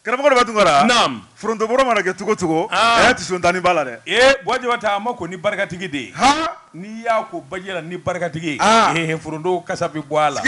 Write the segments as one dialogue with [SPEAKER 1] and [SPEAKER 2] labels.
[SPEAKER 1] Karamɔgɔ Deba Tunkara foronto bɔrɔ
[SPEAKER 2] mana kɛ
[SPEAKER 1] cogo o cogo tisotanin b'a la dɛ ee Buwa Jabate a ma
[SPEAKER 2] ko ni barikatigi de ye n'i y'a ko baji la ni barikatigi foronto kasa bɛ bɔ a la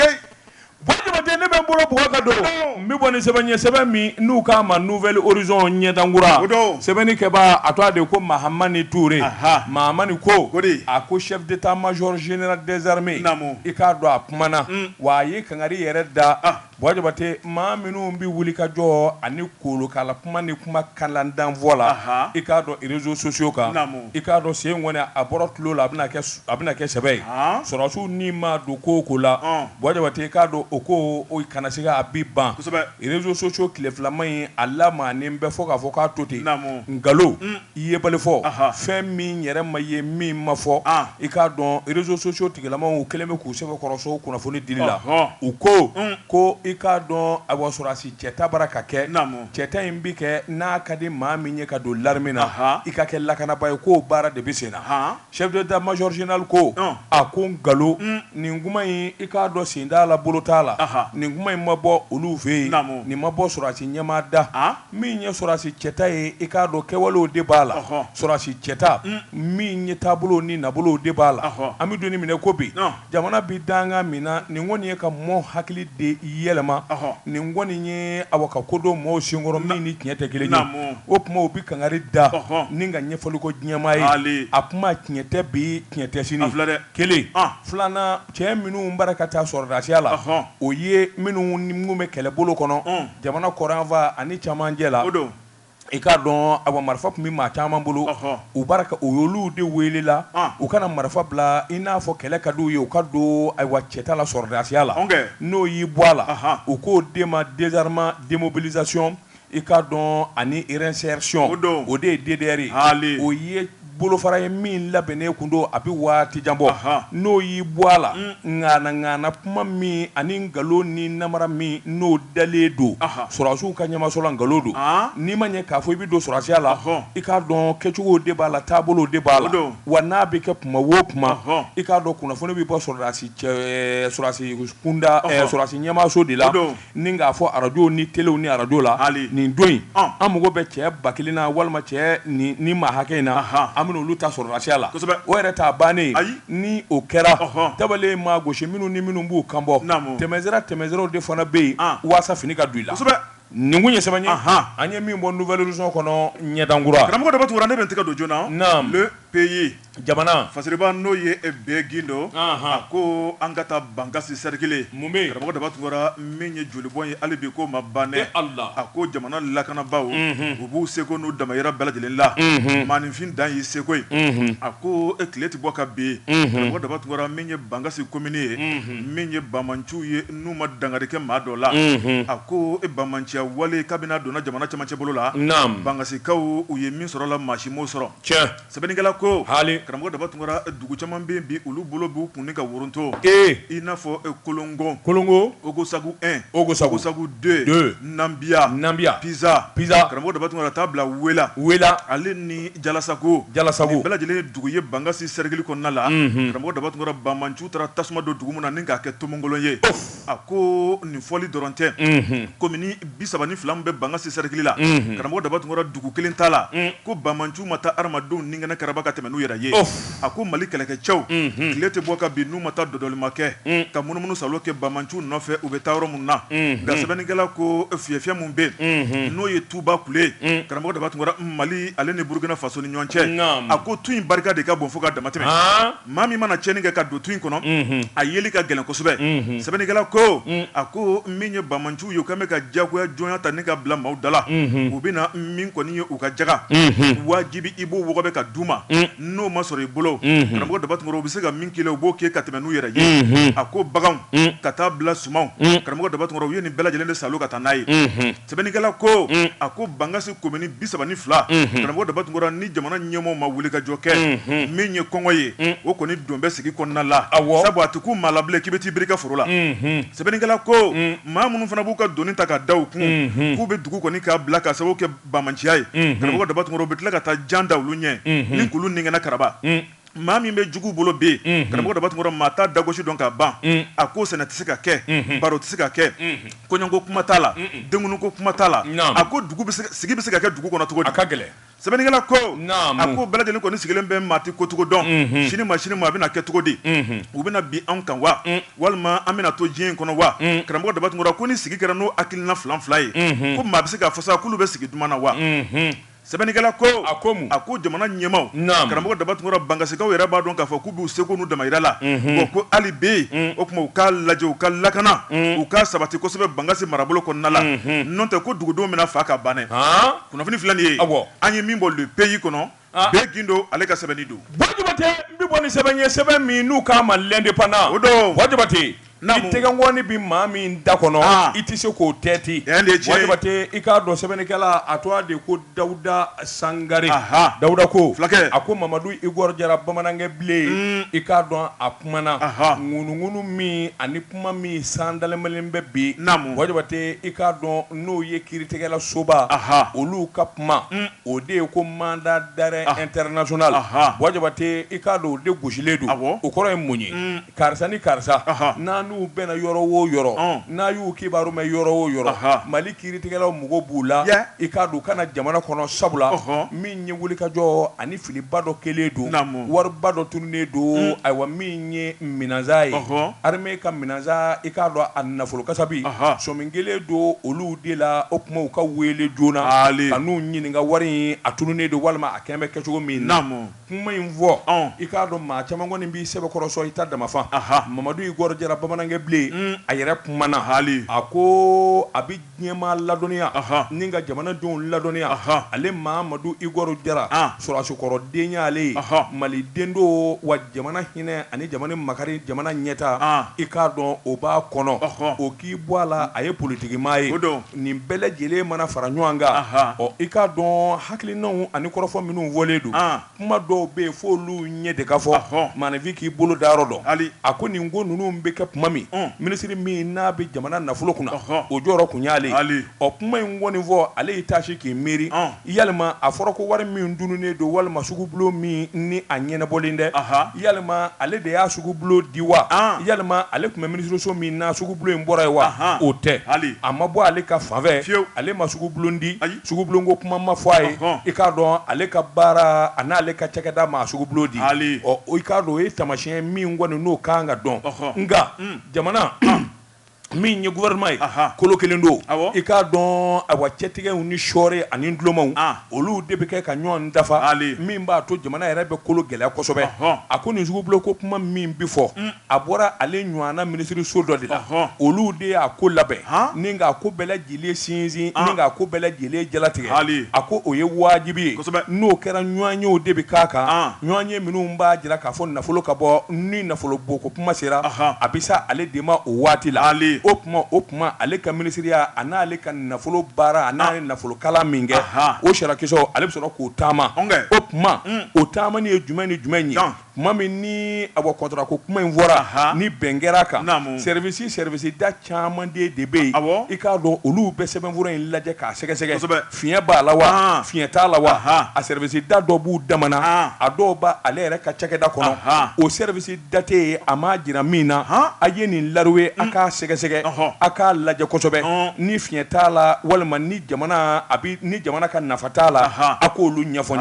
[SPEAKER 2] dɛ ne bɛ n bolo bɔ ka don n bɛ bɔ ni sɛbɛn ye sɛbɛn min n'u k'a ma Nouvel Horizon ɲɛdankura don sɛbɛnnikɛba a tɔgɔ de ko Mahamani Ture Mahamani ko a ko chef d'état major général des armées i k'a dɔn a kumana wa a ye kangari yɛrɛ da Buwa Jabate maa minnu bɛ wuli ka jɔ ani kolokala kuma ni kuma kalantan fɔ la i k'a dɔn réseaux sociaux kan i k'a dɔn sen kɔni a bɔra tulon na a bɛna kɛ sɛbɛ ye sɔrɔsiw nin ma don ko o ko la Buwa Jabate i k'a dɔn o ko o kana siga a bi ban réseaux sociaux tile filama in a lamaganen bɛ fo k'a fɔ k'a to ten nkalon I yebali fɔ, anhan, fɛn min yɛrɛ ma ye min ma fɔ, an, i k'a dɔn réseaux sociaux tigilamaw kɛlen bɛ k'u sɛbɛkɔrɔ sɔ o kunnafoni dili la, ɔhɔ, u ko, un, ko i k'a dɔn ayiwa sɔrɔdasi cɛta bara ka kɛ, naamu, cɛta in bɛ kɛ n'a ka di maa min ye ka don l'armée na, anhan, i ka kɛ lakanaba ye k'o baara de bɛ sen na, han, chef d'état major général ko, un, a ko nkalon, un, nin kuma in i k'a dɔn sen t'a la bolo t'a la, anhan, nin kuma in ma bɔ olu fɛ yen, naamu, nin ma bɔ sɔrɔdasi ɲɛmaa da, an. Min ye sɔrɔdasi cɛta ye i k'a dɔn kɛwalew de b'a la, ɔhɔ, sɔrɔdasi cɛta, un, min ye taabolo ni nabolo de b'a la, ɔhɔ, an bɛ don ni min na i ko bi, ɔn, jamana bɛ dankan min na nin kɔni ye ka mɔɔw hakili de yɛlɛma, ɔhɔ, nin kɔni ye awa ka ko don mɔɔw senkɔrɔ min ni tiɲɛ tɛ kelen ye, naamu, o tuma u bɛ kangari da, ɔhɔ, ni ka ɲɛfɔli ko diɲɛmaa ye, haali, a kuma tiɲɛ tɛ bi tiɲɛ tɛ sini, a filɛ dɛ. Kelen filanan cɛ minnu bara ka taa sɔrɔdasiya la o ye minnu ni minnu bɛ kɛlɛbolo kɔnɔ jamana kɔrɔn fan ani camancɛ la i k'a dɔn awa marifa tun bɛ maa caman bolo u y'olu de wele la u ka na marifa bila i n'a fɔ kɛlɛ ka d'u ye u ka don ayiwa cɛta la sɔrɔdasiya la n'o y'i bɔ a la u k'o de ma désarmement démobilisation I k'a dɔn ani réinsertion o don o de ye DDR ye haali o ye bolofara ye min labɛnnen tun don a bɛ waati jan bɔ n'o y'i bɔ a la nkaana kuma min ani nkalon ni namara min n'o dalen don sɔrɔsiw ka ɲɛmaaso la nkalon don n'i ma ɲɛ k'a fɔ i bɛ don sɔrɔsiya la hɔn i k'a dɔn kɛcogo de b'a la taabolo de b'a la don wa n'a bɛ kɛ kuma wo kuma hɔn i k'a dɔn kunnafoni bɛ bɔ sɔrɔdasi cɛ sɔrɔdasi kunda sɔrɔsi ɲɛmaaso de la Ni k'a fɔ arajo ni telew ni arajo la hali nin don in an mago bɛ cɛ ba kelen na walima cɛ ni maa hakɛ in na an bɛ olu ta sɔrɔdasiya la o yɛrɛ t'a bannen ye ni o kɛra tabale maa gosi minnu ni minnu b'u kan bɔ tɛmɛsira tɛmɛsiraw de fana bɛ yen walasa fini ka don i la nin kun ye sɛbɛn ye an ye min bɔ Nouvel Horizon kɔnɔ ɲɛdankura karamɔgɔ Deba Tunkara ne bɛ n tɛgɛ don journal Le Pays Jamana fasiriba n'o ye be gindo a ko an ka taa bankasi sɛrikili mun bɛ yen karamɔgɔ daba tunkara min ye jolibɔn ye hali bi k'o ma ban dɛ ala a ko jamana lakanabaaw u b'u seko n'u damayira bɛɛ lajɛlen la maaninfin dan y'i seko ye a ko e tile tɛ bɔ ka bin karamɔgɔ daba tunkara min ye bankasi komini ye min ye banbaanciw ye n'u ma dankari kɛ maa dɔ la a ko e banbaanciya wale kabini a donna jamana cɛmancɛ bolo la bankasikaw u ye min sɔrɔ la maa si m'o sɔrɔ Sɛbɛnnikɛla ko haali karamɔgɔ daba tunkara dugu caman bɛ yen bi olu bolo b'u kun ni ka woroto ee i n'a fɔ kolongo kolongo ogosagu un ogosagu deux nanbiya nanbiya piza piza karamɔgɔ daba tunkara ka taa bila wela wela ale ni jalasagu jalasagu bɛɛ lajɛlen ye dugu ye bangasi sɛrikili kɔnɔna la karamɔgɔ daba tunkara banbaanciw taara tasuma don dugu min na ni k'a kɛ tomonkolon ye a ko nin fɔli dɔrɔn tɛ komini bi saba ni fila min bɛ bankasi sɛrikili la karamɔgɔ daba tunkara dugu kelen t'a la ko banbaanciw ma taa hadamadenw ni kɛnɛ karaba ka tɛmɛ n'u yɛrɛ ye a ko mali kɛlɛkɛcɛw tile tɛ bɔ ka bin n'u ma taa dɔdɔlima kɛ ka munumunusaalo kɛ banbaanciw nɔfɛ u bɛ taa yɔrɔ min na nka sɛbɛnnikɛla ko fiyɛfiyɛ min bɛ yen n'o ye tuba kule karamɔgɔ daba tunkara mali ale ni burukina faso ni ɲɔgɔn cɛ a ko tu in barika de ka bon fo ka damatɛmɛ Maa min mana cɛnni kɛ ka don tu in kɔnɔ a yeli ka gɛlɛn kosɛbɛ sɛbɛnnikɛla ko a ko min ye banbaanciw ye u ka bɛ ka jagoya jɔnya ta ni ka bila maaw da la u bɛ na min kɔni ye u ka jaka wajibi i b'o wɔgɔbɛ k'a d'u ma n'o ma sɔrɔ i bolo karamɔgɔ daba tunkara u bɛ se ka min k'i la u b'o kɛ ka tɛmɛ n'u yɛrɛ ye a ko baganw ka taa bila sumanw karamɔgɔ daba tunkara u ye nin bɛɛ lajɛlen de saalo ka taa n'a ye Sɛbɛnnikɛla ko a ko bangasi komini bi saba ni fila karamɔgɔ daba tunkara ni jamana ɲɛmɔgɔw ma wuli ka jɔ kɛ min ye kɔngɔ ye o kɔni don bɛ sigi kɔnɔna la sabu a tɛ ku maa la bilen k'i bɛ t'i biri i ka foro la sɛbɛnnikɛla ko maa minnu fana b'u ka doni ta k'a da u kun k'u bɛ dugu kɔni k'a bila ka sababu kɛ banbaanciya ye karamɔgɔ daba tunkara u bɛ tila ka taa jan da olu ɲɛ ni k'olu ni kɛnɛ karaba
[SPEAKER 1] maa min bɛ jugu bolo bɛ yen karamɔgɔ daba tunkara maa t'a dagosi dɔn ka ban a ko sɛnɛ tɛ se ka kɛ baro tɛ se ka kɛ kɔɲɔko kuma t'a la denkundiko kuma t'a la a ko sigi bɛ se ka kɛ dugu kɔnɔ cogo di a ka gɛlɛn sɛbɛnnikɛla
[SPEAKER 2] ko
[SPEAKER 1] a ko bɛɛ lajɛlen kɔni sigilen bɛ maa tɛ kocogo dɔn sini ma sini ma a bɛna kɛ cogo di u bɛna bin an kan wa walima an bɛna to diɲɛ in kɔnɔ wa karamɔgɔ daba tunkara ko ni sigi kɛra n'o hakilina filanfilan ye ko maa bɛ se k'a fɔ sa k'olu bɛ sigi duman na wa Sɛbɛnnikɛla ko, a ko mun? A ko jamana ɲɛmaaw, naamu, karamɔgɔ Daba Tunkara Bangasikaw yɛrɛ b'a dɔn k'a fɔ k'u b'u seko n'u damayira la, unhun, bon ko hali bi, un, o tuma u k'a lajɛ u ka lakana, un, u k'a sabati kosɛbɛ Bangasi marabolo kɔnɔna la, unhun, n'o tɛ ko dugudenw bɛna faa ka ban dɛ, haan, kunnafoni filɛ nin ye, awɔ, an ye min bɔ Le Pays kɔnɔ, aa, Be Gindo ale ka sɛbɛnni don. Buwa Jabate, n bɛ bɔ
[SPEAKER 2] ni sɛbɛn ye, sɛbɛn min n'u k'a ma L'Indépendant, o don, Buwa Jabate. N'i tɛgɛnkɔni bɛ maa min da kɔnɔ i tɛ se k'o tɛti wa jabatɛ i k'a dɔn sɛbɛnnikɛla a tɔgɔ de ko dawuda sangari dawuda ko fulakɛ a ko mamadu igɔr jara bamanankɛ bilen i k'a dɔn a kumana ŋunuŋunu min ani kuma min san dalenmalen bɛ bi wa jabatɛ i k'a dɔn n'o ye kiiritigɛla soba olu ka kuma o de ye ko mandat d'arrêt international wa jabatɛ i k'a dɔn o de gosilen don o kɔrɔ ye mun ye Karisa ni karisa n'a n'u bɛnna yɔrɔ o yɔrɔ n'a y'u kibaru mɛn yɔrɔ o yɔrɔ mali kiiritigɛlaw mago b'u la i k'a dɔn u ka na jamana kɔnɔ sabu la min ye wulikajɔ ani filiba dɔ kɛlen don wariba dɔ tununnen don ayiwa min ye minansan ye armée ka minansan i k'a dɔn a nafolo kasabi sɔmi kɛlen don olu de la o kuma u ka weele joona ka n'u ɲininka wari in a tununnen don walima a kɛlen bɛ kɛcogo min na kuma in fɔ i k'a dɔn maa caman kɔni b'i sɛbɛkɔrɔ sɔn i ta damafa mamadu igɔr jara bamanankɛ bilen a yɛrɛ kumana ha a ko a bɛ diɲɛmaa ladɔnniya ni ka jamanadenw ladɔnniya ale mamadu igɔr jara sɔrɔsikɔrɔ den y'ale ye maliden don wa jamana hinɛ ani jamana makari jamana ɲɛta i k'a dɔn o b'a kɔnɔ o k'i bɔ a la a ye politikimaa ye Nin bɛɛ lajɛlen mana fara ɲɔgɔn kan ɔ i k'a dɔn hakilinaw ani kɔrɔfɔ minnu fɔlen don kuma dɔw bɛ yen fɔ olu ɲɛ de ka fɔ maaninfin k'i bolo da yɔrɔ dɔn hali a ko nin ko ninnu bɛ kɛ kuma min minisiri min n'a bɛ jamana nafolo kunna o jɔyɔrɔ kun y'ale ye ɔ kuma in kɔni fɔ ale y'i taasi k'i miiri Yalima a fɔra ko wari min dununnen don walima sugubulon min ni a ɲɛnabɔlen dɛ yalima ale de y'a sugubulon di wa yalima ale tun bɛ minisiriso min na sugubulon in bɔra yen wa o tɛ a ma bɔ ale ka fanfɛ fiyewu ale ma sugubulon di sugubulon ko kuma ma fɔ a ye i k'a dɔn ale ka baara a n'ale ka cakɛda ma sugubulon di ɔ i k'a dɔn o ye taamasiyɛn min kɔni n'o ka kan ka dɔn nka jamana min ye gouvernement ye Ahan kolo 1 don awɔ i k'a dɔn awa cɛtigɛw ni sɔɔri ani dulɔmaw an olu de bɛ kɛ ka ɲɔɔn dafa ale min b'a to jamana yɛrɛ bɛ kolo gɛlɛya kosɛbɛ ɔhɔn a ko nin sugubulon ko kuma min bɛ fɔ un a bɔra ale ɲɔɔnna minisiriso dɔ de la ɔhɔn olu de y'a ko labɛn han ni k'a ko bɛɛ lajɛ sinsin ko bɛɛ lajɛlen jalatigɛ hali a ko o ye wajibi ye n'o kɛra ɲɔgɔnyew de bɛ k'a kan ɲɔnye minnu b'a jira k'a fɔ nafolo ka bɔ ni nafolo bɔko kuma sera a bɛ sa ale de ma o waati la ale o kuma o kuma ale ka minisiriya a n'ale ka nafolo baara a n'a ye nafolo kalan min kɛ o sirakisɛw ale bɛ sɔrɔ k'o taama o kuma o taamani ye jumɛn ni jumɛn ye tuma min ni a bɔ kɔntara ko kuma in fɔra ni bɛn kɛra kan service service da caman de bɛ yen i k'a dɔn olu bɛ sɛbɛnfura in lajɛ k'a sɛgɛsɛgɛ fiɲɛ b'a la wa fiɲɛ t'a la wa a service da dɔ b'u dama na a dɔw b' ale yɛrɛ ka cakɛda kɔnɔ o service da tɛ yen a ma jira min na a ye nin lauru ye a k'a sɛgɛsɛgɛ a k'a lajɛ kosɛbɛ ni fiɲɛ t'a la walima ni ni jamana ka nafa t'a la a k'olu ɲɛfɔ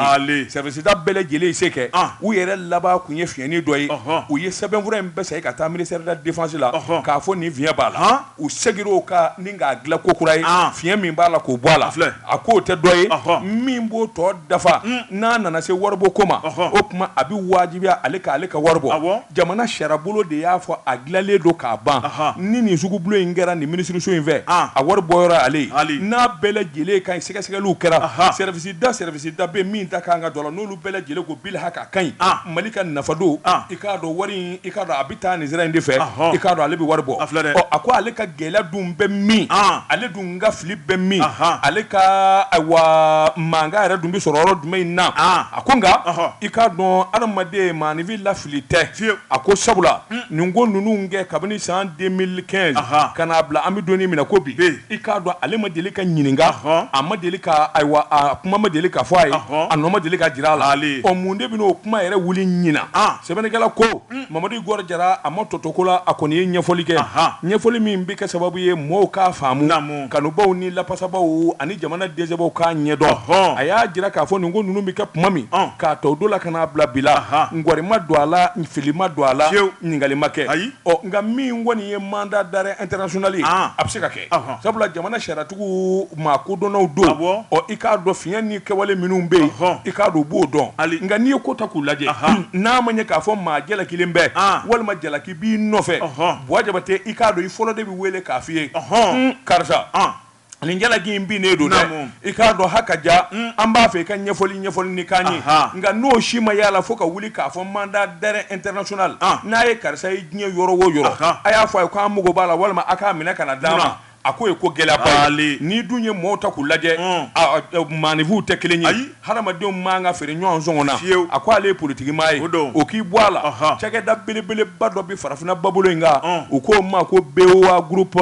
[SPEAKER 2] si da bɛɛ lajɛlen y'i se kɛ u yɛrɛ laban tun ye fiɲɛni dɔ ye u ye sɛbɛnfura in bɛɛ segin ka taa ministère de la défense la k'a fɔ nin fiɲɛ b'a la u segin o kan ni k'a dilan ko kura ye fiɲɛ min b'a la k'o bɔ a la filɛ a k'o tɛ dɔ ye min b'o tɔ dafa n'a nana se waribɔ ko ma o tuma a bɛ wajibiya ale k' ale ka wari bɔ jamana sariyabolo de y'a fɔ a dilanlen don k'a ban ni nin sugubulon in kɛra nin minisiriso in fɛ a wari bɔyɔrɔ ale n'a bɛɛ lajɛlen ka ɲi sɛgɛsɛgɛliw kɛra da service da bɛ min da kan ka don a la n'olu bɛɛ lajɛlen ko bil haka ka ɲi mali ka nafa don i k'a dɔn wari i k'a dɔn a bɛ taa nin sira in de fɛ i k'a dɔn ale bɛ wari bɔ a filɛ a ko ale ka gɛlɛya dun bɛ min ale dun ka fili bɛ min ale ka ayiwa mankan yɛrɛ dun bɛ sɔrɔ yɔrɔ jumɛn in na a ko nka i k'a dɔn adamaden maanifin lafi fili tɛ fiyewu a ko sabula nin ko ninnu kɛ kabini san 2015 Anhan ka n'a bila an bɛ don in min na ko bi i k'a dɔn ale ma deli ka ɲininka Anhan a ma deli ka ayiwa a kuma ma deli ka fɔ a ye Anhan a nɔ ma deli ka jira a la haali ɔ mun de bɛna o kuma yɛrɛ wuli ɲinan an sɛbɛnnikɛla ko Mamadu Igor Jara a ma tɔ to ko la a kɔni ye ɲɛfɔli kɛ Anhan ɲɛfɔli min bɛ kɛ sababu ye mɔɔw k'a faamu naamu kanubaw ni lafasabaw ani jamana dɛsɛbaw k'a ɲɛdɔn a y'a jira k'a fɔ nin ko ninnu bɛ kɛ tuma min k'a ta o don la ka n'a bila bi la ngɔri ma don a la fili ma don a la ɲininkali ma kɛ ayi nka min kɔni ye mandat d'arrêt international ye a bɛ se ka kɛ sabula jamana sariyatigiw maa kodɔnnaw don ɔ i k'a dɔn fiɲɛ ni kɛwale minnu bɛ yen i k'a don u b'o dɔn nka n'i ye ko ta k'u lajɛ n'a ma ɲɛ k'a fɔ maa jalakilen bɛ walima jalaki b'i nɔfɛ Buwa Jabate i k'a dɔn i fɔlɔ de bɛ wele k'a f'i ye karisa nin jalaki in binnen don dɛ i k'a dɔn ha ka ja an b'a fɛ i ka ɲɛfɔli ɲɛfɔli nin k'an ye nka n'o si ma y'a la fo ka wuli k'a fɔ mandat d'arrêt international n'a ye karisa ye diɲɛ yɔrɔ o yɔrɔ a y'a fɔ a ye k'an mako b'a la walima a k'a minɛ ka na d'a ma A ko ye ko gɛlɛyaba ye n'i dun ye mɔgɔw ta k'u lajɛ maanifinw tɛ kelen ye ayi hadamadenw man ka feere ɲɔgɔn sɔngɔ na fiyewu a ko ale ye politigimaa ye o don o k'i bɔ a la cakɛda belebeleba dɔ bɛ farafinna ba bolo in kan u k'o ma ko BOA groupe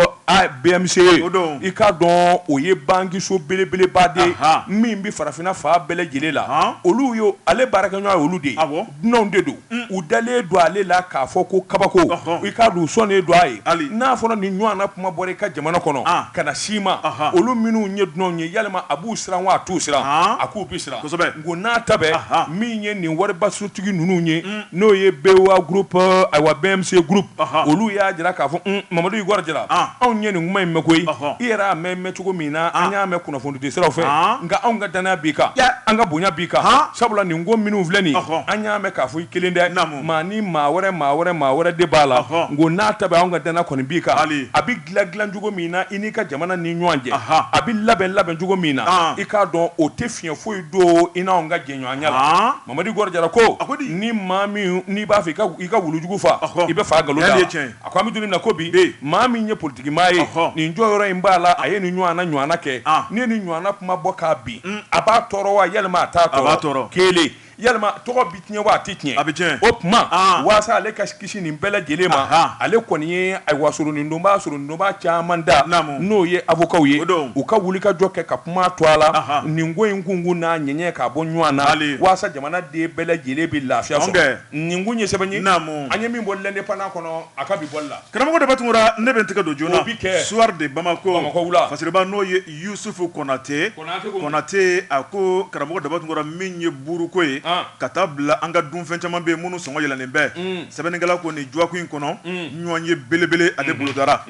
[SPEAKER 2] BMCE o don i k'a dɔn o ye bankiso belebeleba de ye min bɛ farafinna fan bɛɛ lajɛlen la olu ye ale baarakɛɲɔgɔn ye olu de ye dunanw de don u dalen don ale la k'a fɔ ko kabako i k'a dɔn u sɔnnen don a ye hali n'a fɔra nin ɲɔgɔn na kuma bɔra i ka jamana kɔnɔ ka ɲɛsin i ma olu minnu ye dunanw ye yalima a b'u siran wa a t'u siran a k'u bɛ siran kosɛbɛ nk'o n'a ta bɛɛ min ye nin waribasotigi ninnu ye n'o ye BOA groupe ayiwa BMC groupe olu y'a jira k'a fɔ Mamadu Igor Jara anw ye nin kuma in mɛn koyi i yɛrɛ y'a mɛn cogo min na an y'a mɛn kunnafonidi siraw fɛ nka anw ka dannaya b'i kan an ka bonya b'i kan sabula nin ko minnu filɛ nin an y'a mɛn k'a fɔ i kelen tɛ maa ni maa wɛrɛ maa wɛrɛ maa wɛrɛ de b'a la nk'o n'a ta bɛɛ an ka dannaya kɔni b'i kan a bɛ dilan dilancogo min na i n'i ka jamana ni ɲɔgɔn cɛ a bɛ labɛn labɛncogo min na i k'a dɔn o tɛ fiɲɛ foyi don i n'an ka jɛɲɔgɔnya la Mamadu Igor Jara ko a ko ni maa min n'i b'a fɛ i ka wulujugu faa i bɛ fa nkalon da A ko an bɛ don min na ko bi, e, maa min ye politiki maa ye, ɔhɔ, nin jɔyɔrɔ in b'a la, a ye nin ɲɔgɔnna ɲɔgɔnna kɛ, an, n'i ye nin ɲɔgɔnna kuma bɔ k'a bin, un, a b'a tɔɔrɔ wa yalima a t'a tɔɔrɔ, a b'a tɔɔrɔ, kelen, yalima tɔgɔ bɛ tiɲɛ wa a tɛ tiɲɛ, a bɛ tiɲɛ, o tuma, an, walasa ale ka kisi nin bɛɛ lajɛlen ma, anhan, ale kɔni ye ayiwa soronindonbaa soronindonbaa caman da, naamu, n'o ye avocatw ye, o don, u ka wulikajɔ kɛ ka kuma to a la, anhan, nin ko in kunkun n'a ɲɛɲɛ k'a bɔ ɲɔgɔn na, bali, walasa jamanaden bɛɛ lajɛlen bɛ lafiya sɔrɔ, ɔn kɛ. Nin kun ye sɛbɛn ye naamu an ye min bɔ L'Indépendant kɔnɔ a ka bi bɔli la karamɔgɔ Daba Tunkara
[SPEAKER 1] ne bɛ n tɛgɛ don joona bɛ kɛ Soir de
[SPEAKER 2] Bamako
[SPEAKER 1] la Fasiriba n'o ye Yusufu Konate Konate a ko karamɔgɔ Daba Tunkara min ye buruko ye ka taa bila an ka dunfɛn caman bɛ minnu sɔngɔ yɛlɛlen bɛ sɛbɛnnikɛla ko nin dɔgɔkun in kɔnɔ ɲɔgɔnye belebele ale bolodara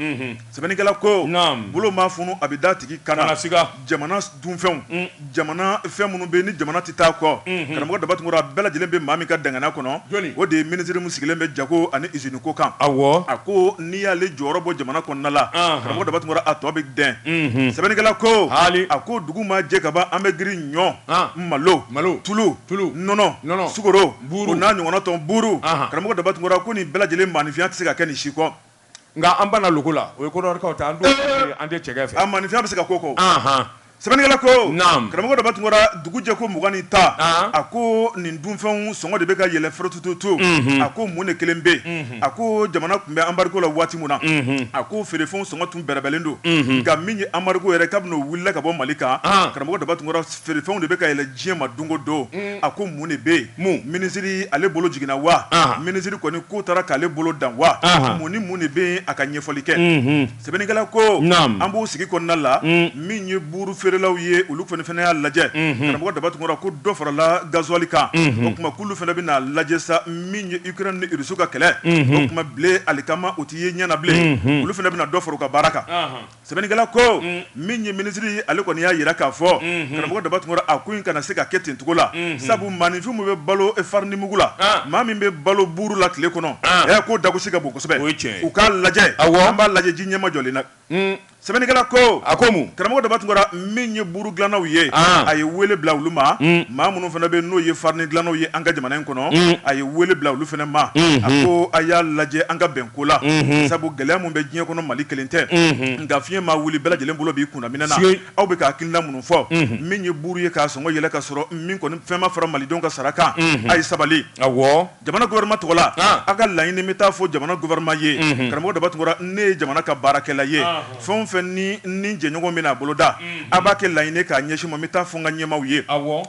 [SPEAKER 1] sɛbɛnnikɛla ko bolo ma funu a bɛ da tigi kan na jamana dunfɛnw jamana fɛn minnu bɛ ni jamana tɛ taa kɔ karamɔgɔ Daba Tunkara a bɛɛ lajɛlen bɛ maa min ka dankaniya kɔnɔ o de ye minisiri min sigilen bɛ jago ani usine ko kan a a ko n'i y'ale jɔyɔrɔ bɔ jamana kɔnɔna la karamɔgɔ Daba Tunkara a tɔ bɛ dɛn sɛbɛnnikɛla ko a ko dugu ma jɛ ka ban an bɛ girin ɲɔ malo malo tulu tulu nɔnɔ sukaro o n'a ɲɔgɔnna tɔw buru karamɔgɔ Daba Tunkara ko nin bɛɛ lajɛlen maaninfinya tɛ se ka kɛ nin si kɔ Nka an
[SPEAKER 2] banna loko la, o ye Kodiwari ta ye, an t'o fɛ, an tɛ cɛkɛ fɛ, ɔ maaninfinya bɛ se ka k'o
[SPEAKER 1] kɔ, anhan, sɛbɛnnikɛla ko, naamu, karamɔgɔ Daba Tunkara dugu jɛ ko mugan ni tan, an, a ko nin dunfɛnw sɔngɔ de bɛ ka yɛlɛn forotututu, unhun, a ko mun de kɛlen bɛ yen, a ko jamana tun bɛ anbargo la waati min na, unhun, a ko feerefɛnw sɔngɔ tun bɛrɛbɛnlen don, unhun, nka min ye anbargo yɛrɛ kabini o wulila ka bɔ Mali kan, an, karamɔgɔ Daba Tunkara Feerefɛnw de bɛ ka yɛlɛn diɲɛ ma don o don, a ko mun de bɛ yen? Mun? Minisiri ale bolo jiginna wa? Minisiri kɔni ko taara k'ale bolo dan wa? Mun ni mun de bɛ yen a ka ɲɛfɔli kɛ? Sɛbɛnnikɛla ko, naamu, an b'o sigi kɔnɔna la, min ye buuru feerelaw ye olu kɔni fana y'a lajɛ, karamɔgɔ Daba Tunkara ko dɔ farala gazuwali kan, o tuma k'olu fana bɛna a lajɛ sa min ye Ukraine ni Russie ka kɛlɛ, o tuma blé alikama o tɛ ye ɲɛ na bilen, olu fana bɛna dɔ fara u ka baara kan. Sɛbɛnnikɛla ko min ye minisiri ye ale kɔni y'a jira k'a fɔ karamɔgɔ Daba Tunkara a ko in kana se ka kɛ ten cogo la sabu maaninfin min bɛ balo farinimugu la maa min bɛ balo buru la tile kɔnɔ ɛ k'o dagosi ka bon kosɛbɛ o cɛ u k'a lajɛ a an b'a lajɛ ji ɲɛma jɔlen na sɛbɛnnikɛla ko a ko karamɔgɔ Daba Tunkara min ye buru dilannaw ye a ye weele bila olu ma maa minnu fana bɛ n'o ye farini dilannaw ye an ka jamana in kɔnɔ a ye weele bila olu fana ma a ko a y'a lajɛ an ka bɛn ko la sabu gɛlɛya min bɛ diɲɛ kɔnɔ mali kelen tɛ nka fiɲɛ ma wuli bɛɛ lajɛlen bolo b'i kunna minɛn na aw bɛ ka hakilina minnu fɔ min ye buru ye k'a sɔngɔ yɛlɛ ka sɔrɔ min kɔni fɛn ma fara malidenw ka sara kan a ye sabali jamana gouvernement tɔgɔ la aw ka laɲini n bɛ taa fɔ jamana gouvernement ye karamɔgɔ Daba Tunkara ne ye jamana ka baarakɛla ye fɛn fɛn ni ni jɛɲɔgɔn bɛna a boloda A b'a kɛ laɲini k'a ɲɛsin n ma n bɛ taa fɔ n ka ɲɛmaaw ye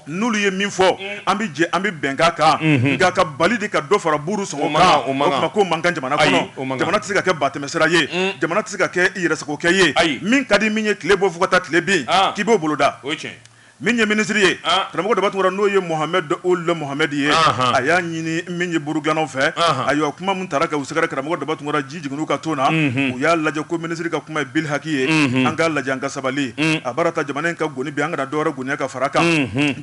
[SPEAKER 1] n'olu ye min fɔ an bɛ jɛ an bɛ bɛnkan kan nka ka bali de ka dɔ fara buuru sɔngɔ kan ko man kan jamana kɔnɔ jamana tɛ se ka kɛ batɛmɛsira ye jamana tɛ se ka kɛ yɛrɛsagokɛ ye ayi min ka di min ye tile bɔ fo ka taa tile bin k'i b'o boloda min ye minisiri ye karamɔgɔ Daba Tunkara n'o ye Mohamɛdi Ould Mohamɛdi ye a y'a ɲini min ye buuru gilannaw fɛ ayiwa kuma min taara ka u sɛgɛrɛ karamɔgɔ Daba Tunkara jigin u ka to na u y'a lajɛ ko minisiri ka kuma ye bil haki ye an k'a lajɛ an ka sabali a bara ta jamana in ka goni bi an kana dɔwɛrɛ goniya ka fara kan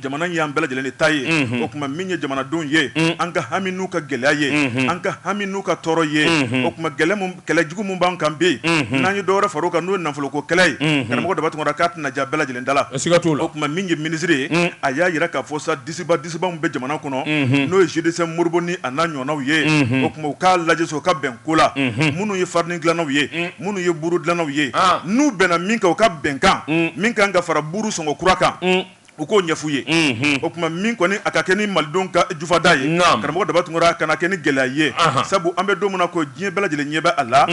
[SPEAKER 1] jamana y' an bɛɛ lajɛlen de ta ye o tuma min ye jamanadenw ye an ka hami n'u ka gɛlɛya ye an ka hami n'u ka tɔɔrɔ ye o tuma kɛlɛ jugu min b'an kan bi n'an ye dɔwɛrɛ fara o kan n'o ye nafolo ko kɛlɛ ye karamɔgɔ Daba Tunkara k'a tɛna ja bɛɛ lajɛlen da la ka ka o tuma min ye minisiri ye a y'a jira k'a fɔ sa disiba disiba min bɛ jamana kɔnɔ n'o ye GDCM Modibo ni a n'a ɲɔgɔnnaw ye o tuma u k'a lajɛ sa u ka bɛn ko la minnu ye farini dilannaw ye minnu ye buru dilannaw ye n'u bɛnna min kan u ka bɛnkan min ka kan ka fara buru sɔngɔ kura kan u k'o ɲɛf'u ye o tuma min kɔni a ka kɛ ni malidenw ka jufa da ye karamɔgɔ Daba Tunkara a kana kɛ ni gɛlɛya ye sabu an bɛ don min na ko diɲɛ bɛɛ lajɛlen ɲɛ bɛ a la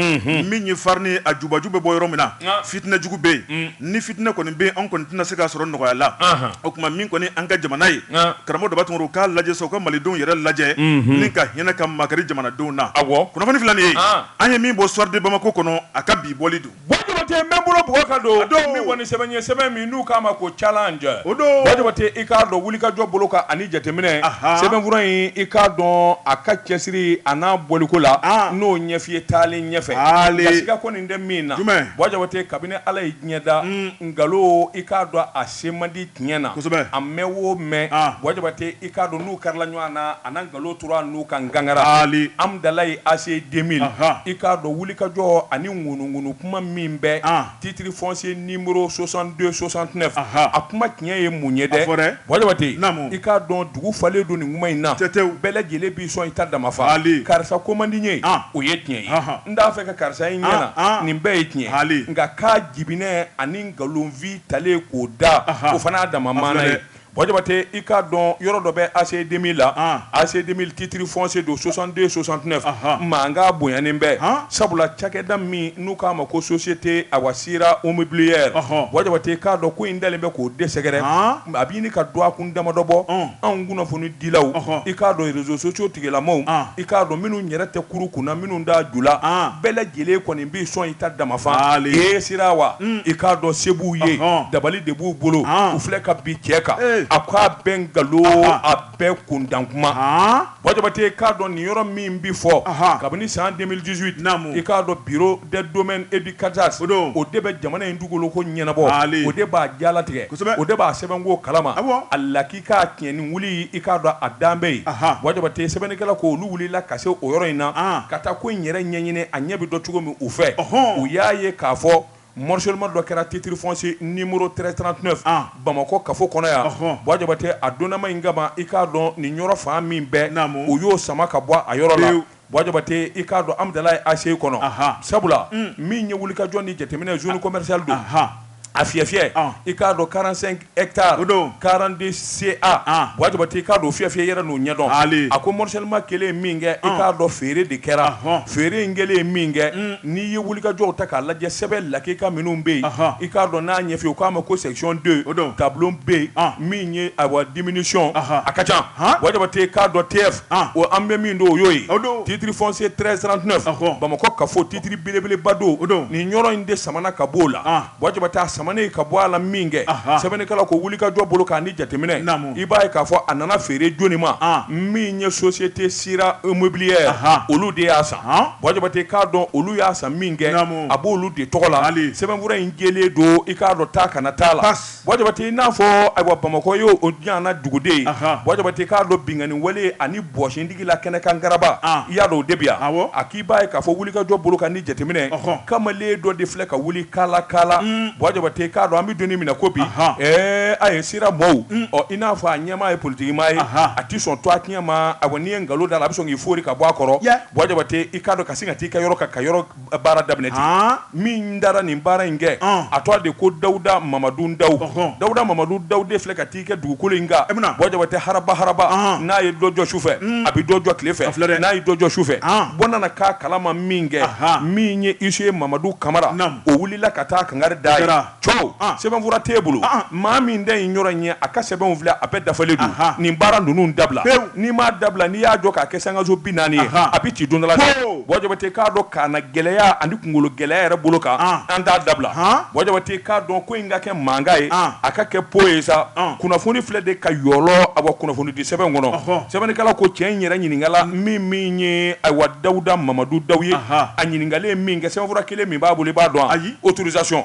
[SPEAKER 1] min ye farini ye a jubaju bɛ bɔ yɔrɔ min na fitinɛ jugu bɛ yen Ni fitinɛ kɔni bɛ yen, an kɔni tɛna se k'a sɔrɔ nɔgɔya la. Anhan! O tuma min kɔni ye an ka jamana ye. An! Karamɔgɔ Daba Tunkara, u k'a lajɛ sa, u ka Malidenw yɛrɛ lajɛ. Unhun! Ni ka hinɛ ka makari jamanadenw na. Awɔ! Kunnafoni filɛ nin ye. An! An ye min bɔ Soir de Bamako kɔnɔ, a ka bi bɔli don. Buwa Jabate, n bɛ n bolo
[SPEAKER 2] bugɔ ka don. A don! Min kɔni sɛbɛn in ye, sɛbɛn min n'u k'a ma ko challenge. O don! Buwa Jabate, i k'a dɔn wulikajɔ bolo kan ani jateminɛ. Ahan! Sɛbɛnfura in, i k'a dɔn a ka cɛsiri a n'a bɔliko la. An! N n'o ɲɛf'i ye taalen ɲɛfɛ. Taalen! Nka siga kɔni tɛ min na Buwa Jabate kabini ala ye diɲɛ da nkalon i k'a dɔn a se man di tiɲɛ na a mɛɛn o mɛɛn Buwa Jabate i k'a dɔn n'u karila ɲɔgɔn na a nkalon tora n'u ka gangara Hamdallaye ACI deux mille i k'a dɔn wulikajɔ ani ŋunuŋunu kuma min bɛ titre foncier numéro soixante-deux soixante-neuf a kuma tiɲɛ ye mun ye dɛ Buwa Jabate i k'a dɔn dugu falen don nin kuma in na bɛɛ lajɛlen sɔn i ta dama fa Haali. karisa ko man di n ye An. o ye tiɲɛ ye Anhan. n t'a fɛ ka karisa ye n ɲɛ An, na an. nin bɛɛ ye tiɲɛ ye Haali. nka k'a jibinɛ ani nkalonfi talen k'o da Ahan. o fana y'a dama A maana filɛ ye dɛ. Buwa Jabate i k'a dɔn yɔrɔ dɔ bɛ ACI 2000 la An. ACI 2000 titre foncier don 62 69 Ahan. mankan bonyanen bɛ Han. sabula cakɛda min n'u k'a ma ko société awa Si Sira Immobilière Buwa Jabate i k'a dɔn ko in dalen bɛ k'o de sɛgɛrɛ a bɛ ɲini ka dɔn a kun damadɔ bɔ anw kunnafoni dilaw i k'a dɔn réseaux sociaux tigilamaw i k'a dɔn minnu yɛrɛ tɛ kurun kun na minnu t'a ju la bɛɛ lajɛlen kɔni bɛ sɔn i ta dama fa ye Sira wa i k'a dɔn se b'u ye dabali de b'u bolo u filɛ ka bin cɛ kan a k'a bɛɛ nkalon a bɛɛ kuntan kuma Buwa Jabate k'a dɔn nin yɔrɔ min bɛ fɔ, anhan, kabini san 2018, naamu, i k'a dɔn bureau des domaines et du cadastre o don, o de bɛ jamana in dugukolo ko ɲɛnabɔ, haali, o de b'a jalatigɛ, kosɛbɛ, o de b'a sɛbɛnko kalama, awɔ, a lakika tiɲɛ ni wuli i k'a dɔn a dan bɛ yen, anhan, Buwa Jabate sɛbɛnnikɛla ko olu wulila ka se o yɔrɔ in na, an, ka taa ko in yɛrɛ ɲɛɲini a ɲɛ bɛ dɔn cogo min u fɛ, ɔnhɔn, u y'a ye k'a fɔ Morcellement dɔ kɛra titre foncier numéro 1339 an, Bamakɔ kafo kɔnɔ yan, ɔnhɔn, Buwa Jabate a donnama in kama i k'a dɔn nin yɔrɔ fan min bɛɛ, naamu, u y'o sama ka bɔ a yɔrɔ la, pewu, Buwa Jabate i k'a dɔn Amudalayi ACI kɔnɔ, anhan, sabula, un, min ye wulikajɔ ni jateminɛ zone commerciale don, anhan, a fiyɛ fiyɛ, ɔn, i k'a dɔn 45 hectares 42 CA Buwa Jabate k'a dɔn fiyɛfiyɛ yɛrɛ n'o ɲɛdɔn a ko morcellement kɛlen min kɛ i k'a dɔn feere de kɛra feere in kɛlen ye min kɛ n'i ye wulikajɔw ta k'a lajɛ sɛbɛn lakika minnu bɛ yen i k'a dɔn n'a ɲɛfɛ u k'a ma ko section 2 o don tableau B min ye awa diminution a ka ca Buwa Jabate k'a dɔn TF o an bɛ min don o y'o ye titre foncier 1339 Bamakɔ kafo titre belebeleba don o don nin yɔrɔ in de samana ka bɔ o la Buwa Jabate a samanen ka bɔ a la min kɛ sɛbɛnnikɛla ko wulikajɔ bolo kan ni jateminɛ i b'a ye k'a fɔ a nana feere jɔnni ma min ye société Sira Immobilière olu de y'a san Buwa Jabate k'a dɔn olu y'a san min kɛ a b'olu de tɔgɔ la sɛbɛnfura in jɛlen don i k'a dɔn taa ka na t'a la Buwa Jabate i n'a fɔ ayiwa Bamakɔ y'o yan duguden ye Buwa Jabate k'a dɔn binkanni wale ani bɔsindi la kɛnɛkan garaba ah. i y'a dɔn o de bɛ yan awɔ a k'i b'a ye k'a fɔ wulikajɔ bolo kan ni jateminɛ ɔhɔn kamalen dɔ de filɛ ka wuli kaala kaala mm. buwa jabate k'a dɔn an bɛ don min na ko bi ɛɛ a ye Sira mɔw mm. ɔ i n'a fɔ a ɲɛmaa ye politikimaa ye a ti sɔn tɔgɔ tiɲɛ ma a ko n'i ye nkalon d'a la a bɛ sɔn k'i foori ka bɔ a kɔrɔ buwa jabate i k'a dɔn ka sin ka t'i ka yɔrɔ kan ka yɔrɔ baara daminɛ ten, han, min taara nin baara in kɛ, ɔn, a tɔgɔ de ko Dawuda Mamadu Ndaw, ɔhɔ, Dawuda Mamadu Ndaw de filɛ ka t'i kɛ dugukolo in kan, e bɛna, Buwa Jabate haraba haraba, ɔnhɔn, n'a ye dɔ jɔ su fɛ, un, a bɛ dɔ jɔ tile fɛ, a filɛ dɛ, n'a ye dɔ jɔ su fɛ, an, bɔ nana k'a kalama min kɛ, ahaa, min ye huissier Mamadu Kamara, naamu, o wulila ka taa kangari d'a ye, o kɛra. cɛw sɛbɛnfura t'e bolo maa min ta in yɔrɔ in ye a ka sɛbɛnw filɛ a bɛɛ dafalen don nin baara ninnu dabila n'i m'a dabila n'i y'a jɔ k'a kɛ sankanso bi naani ye a bɛ ci don dɔ la dɛ buwa jabate k'a dɔn k'a na gɛlɛya ani kunkolo gɛlɛya yɛrɛ bolo kan an t'a dabila buwa jabate k'a dɔn ko in ka kɛ mankan ye a ka kɛ po ye sa kunnafoni filɛ de ka yɔlɔ a bɔ kunnafoni di sɛbɛn kɔnɔ sɛbɛnnikɛla ko cɛ in yɛrɛ ɲininkala min min ye ayiwa dawuda mamadu ndaw ye a ɲininkalen min kɛ sɛbɛnfura kelen min b'a bolo i b'a dɔn ayi autorisation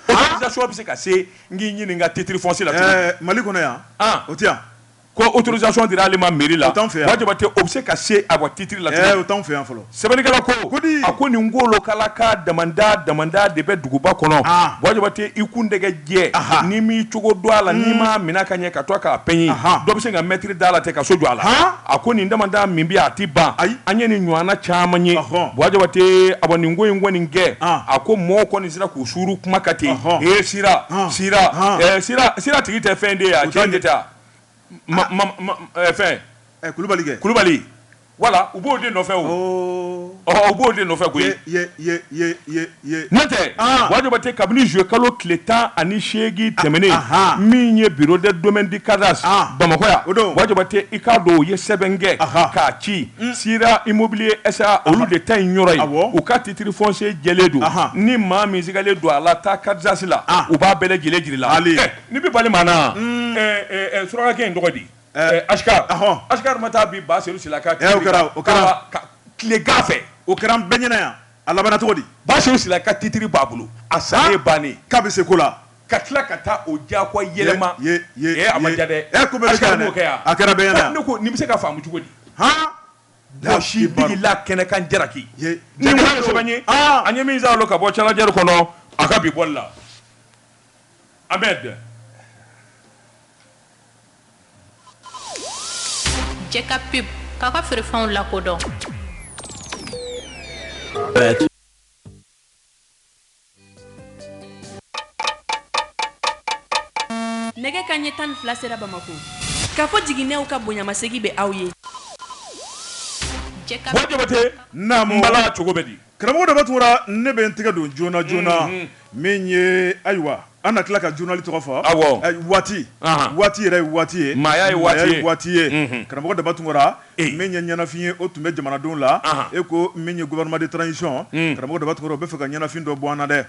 [SPEAKER 2] autorisation bɛ se ka se n k'i ɲininka titre foncier la? Mali kɔnɔ yan
[SPEAKER 1] o tɛ yan ko autorisation
[SPEAKER 2] dira ale ma mairie la Buwa Jabate o bɛ se ka se a ka titre la? O t'anw fɛ yan
[SPEAKER 1] fɔlɔ sɛbɛnnikɛla
[SPEAKER 2] ko a ko nin nkolokala ka damanda damanda de bɛ duguba kɔnɔ Buwa Jabate i kun dɛgɛ jɛ n'i m'i cogo dɔn a la n'i m'a minɛ ka ɲɛ ka to k'a peɲi dɔ bɛ se ka mɛtiri da la ten ka so jɔ a la a ko nin damanda min bɛ a tɛ ban an ye nin ɲɔgɔnna caman ye buwa jabate a nin ko in kɔni kɛ a ko mɔgɔw kɔni sera k'u suuru kuma ka ten e sira sira tigi tɛ fɛn de ye a jɔn de taa fɛn kulubali kulubali Wala u b'o de nɔfɛ u b'o de nɔfɛ koyi n'o tɛ buwa jabate kabini juillet kalo tile tan ani seegin tɛmɛnen min ye bureau de domaine du cadastre bamakɔ yan buwa jabate i k'a dɔn u ye sɛbɛn kɛ k'a ci Sira Immobilier SA olu de ta in yɔrɔ ye u ka titre foncier jɛlen don ni maa min sigalen don a la taa cadastre la u b'a bɛɛ lajɛlen jira i la ni bɛ bali maa na surakakɛ in tɔgɔ di ma taa bi ba sen kɛra
[SPEAKER 1] kɛrakan fɛ
[SPEAKER 2] o kɛra bɛn ɲɛna yan
[SPEAKER 1] a laban cogo di ba sen ka titiriri
[SPEAKER 2] ba bolo a san ye ban k'a bɛ se ko la
[SPEAKER 1] ka tila ka taa
[SPEAKER 2] o ja yɛlɛma
[SPEAKER 1] bɛ se ka faamu cogo
[SPEAKER 2] di la kɛnɛkan jaraki ye min ka bɔ jari kɔnɔ a ka bi bɔ la
[SPEAKER 3] Jɛka pub k'a ka feerefɛnw
[SPEAKER 4] lakodɔn nɛgɛ kanɲɛ tan ni fila sera bamakɔ Kafo Jiginɛw ka bonyamasegin bɛ aw ye jɛka
[SPEAKER 2] Buwa Jabate, naamu, n bala cogo bɛ di? Karamɔgɔ daba
[SPEAKER 1] tunkara ne bɛ n tɛgɛ don joona joona min ye ayiwa an na tila ka journal tɔgɔ fɔ waati waati yɛrɛ ye waati ye maaya ye waati ye waati
[SPEAKER 2] ye
[SPEAKER 1] karamɔgɔ daba tunkara min ye ɲɛnafin ye o tun bɛ jamanadenw la e ko min ye gouvernement de transition karamɔgɔ daba tunkara o bɛ fɛ ka ɲɛnafin dɔ bɔ an na dɛ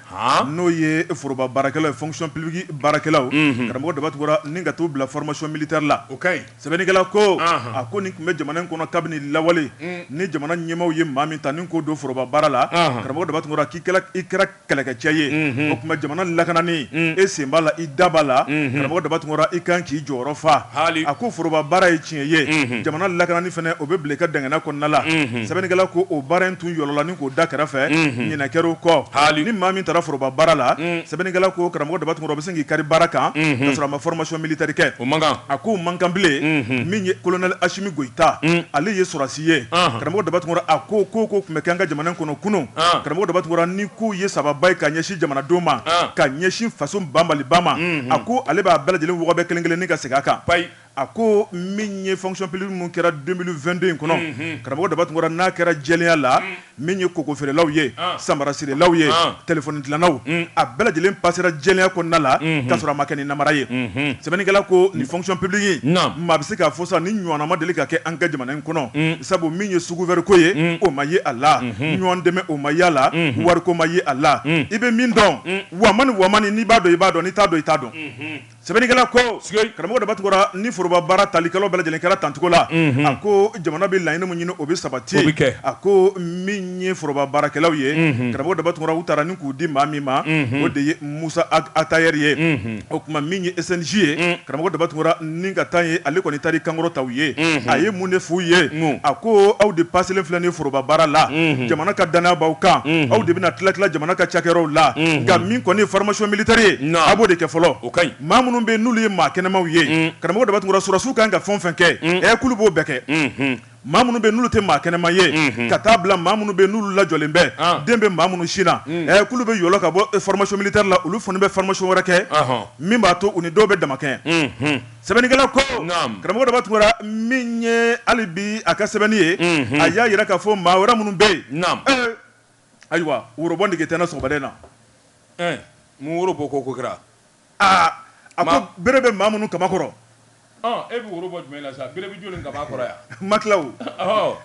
[SPEAKER 1] n'o ye foroba baarakɛlaw ye fonction publique baarakɛlaw karamɔgɔ daba tunkara ni ka t'u bila formation militaire la o ka ɲi Sɛbɛnnikɛla ko, anhan, a ko nin tun bɛ jamana in kɔnɔ kabini lawale, un, ni jamana ɲɛmaaw ye maa min ta ni k'o don foroba baara la, anhan, karamɔgɔ Daba Tunkara k'i kɛra kɛlɛkɛcɛ ye, unhun, o tuma jamana lakanani, un, e sen b'a la i da b'a la, unhun, karamɔgɔ Daba Tunkara i ka kan k'i jɔyɔrɔ fa, haali, a ko foroba baara ye tiɲɛ ye, unhun, jamana lakanani fana o bɛ bila i ka dangana kɔnɔna la, unhun, sɛbɛnnikɛla ko o baara in tun yɔlɔla ni k'o da kɛrɛfɛ, unhun, ɲinɛ kɛra o kɔ, haali, ni maa min tara foroba baara la, un, sɛbɛnnikɛla ko karamɔgɔ Daba Tunkara o bɛ se k'i kari baara kan k'a sɔrɔ a ma formation militaire kɛ o man kan a k'o man kan bilen min ye colonel Asimi Goyita ale ye sɔrɔdasi ye karamɔgɔ Daba Tunkara a ko ko o ko tun bɛ kɛ an ka jamana in kɔnɔ kunun karamɔgɔ Daba Tunkara ni kow ye sababa ye ka ɲɛsin jamanadenw ma ka ɲɛsin faso banbaliba ma a ko ale b'a bɛɛ lajɛlen wɔgɔbɛ kelen-kelennin ka segin a kan payi A ko min ye fonction publique min kɛra 2022 in kɔnɔ, karamɔgɔ Daba Tunkara n'a kɛra jɛlenya la, min ye koko feerelaw ye, samara sirelaw ye, telefɔni dilannaw, a bɛɛ lajɛlen passera jɛlenya kɔnɔna la k'a sɔrɔ a ma kɛ ni namara ye. Sɛbɛnnikɛla ko nin fonction publique in, maa bɛ se k'a fɔ sa nin ɲɔgɔnna ma deli ka kɛ an ka jamana in kɔnɔ, sabu min ye sous-couvert ko ye, o ma ye a la, ɲɔgɔn dɛmɛ o ma ye a la, wariko ma ye a la, i bɛ min dɔn, wamani wamani, n'i b'a dɔn i b'a dɔn, n'i t'a dɔn i t'a dɔn. Sɛbɛnnikɛla ko karamɔgɔ Daba Tunkara ni foroba baara talikɛlaw bɛɛ lajɛlen kɛra tancogo la a ko jamana bɛ laɲini min ɲini o bɛ sabati a ko min ye foroba baarakɛlaw ye karamɔgɔ Daba Tunkara u tara ni k'u di maa min ma o de ye Musa Atayɛri ye o tuma min ye SNJ ye karamɔgɔ Daba Tunkara ni ka taa ye ale kɔni taara kankɔrɔ ta ye a ye mun de f'u ye a ko aw de paselen filɛ nin foroba baara la jamana ka dannaya b'aw kan aw de bɛna tila-tila jamana ka cakɛyɔrɔw la nka min kɔni ye formation militaire ye a b'o de kɛ fɔlɔ o ka ɲi maa minnu bɛ n'olu ye maa kɛnɛmaw ye karamɔgɔ Daba Tunkara sɔrɔsiw kan ka fɛn o fɛn kɛ ɛ k'olu b'o bɛɛ kɛ maa minnu bɛ n'olu tɛ maa kɛnɛma ye ka taa bila maa minnu bɛ n'olu lajɔlen bɛ den bɛ maa minnu sin na ɛ k'olu bɛ yɔlɔ ka bɔ formation militaire la olu fana bɛ formation wɛrɛ kɛ min b'a to u ni dɔw bɛ damakɛɲɛ sɛbɛnnikɛla ko karamɔgɔ Daba Tunkara min ye hali bi a ka sɛbɛnni ye a y'a jira k'a fɔ maa wɛrɛ minnu bɛ yen Ayiwa worobɔ nege tɛ n na sɔgɔmada in na.
[SPEAKER 2] Ɛɛ mun woro bɔ ko ko kɛra?
[SPEAKER 1] Aa a ko bere bɛ maa minnu kaman kɔrɔ. Ɔn e bɛ
[SPEAKER 2] woro bɔ jumɛn na sa? Bere bɛ jɔni kaman kɔrɔ yan? N ma tila o. Ɔhɔ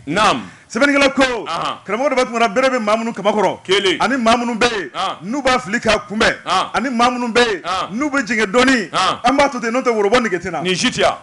[SPEAKER 2] naamu. Sɛbɛnnikɛla
[SPEAKER 1] ko, Ahan. Karamɔgɔ Daba Tunkara bere bɛ maa minnu kaman kɔrɔ. Kelen. Ani maa minnu
[SPEAKER 2] bɛ
[SPEAKER 1] yen. An. N'u b'a fili k'a kunbɛn. An. Ani maa minnu bɛ yen. An. N'u bɛ jɛngɛ dɔɔnin. An. An b'a to ten n'o tɛ worobɔ nege tɛ n na. Nin si tɛ yan.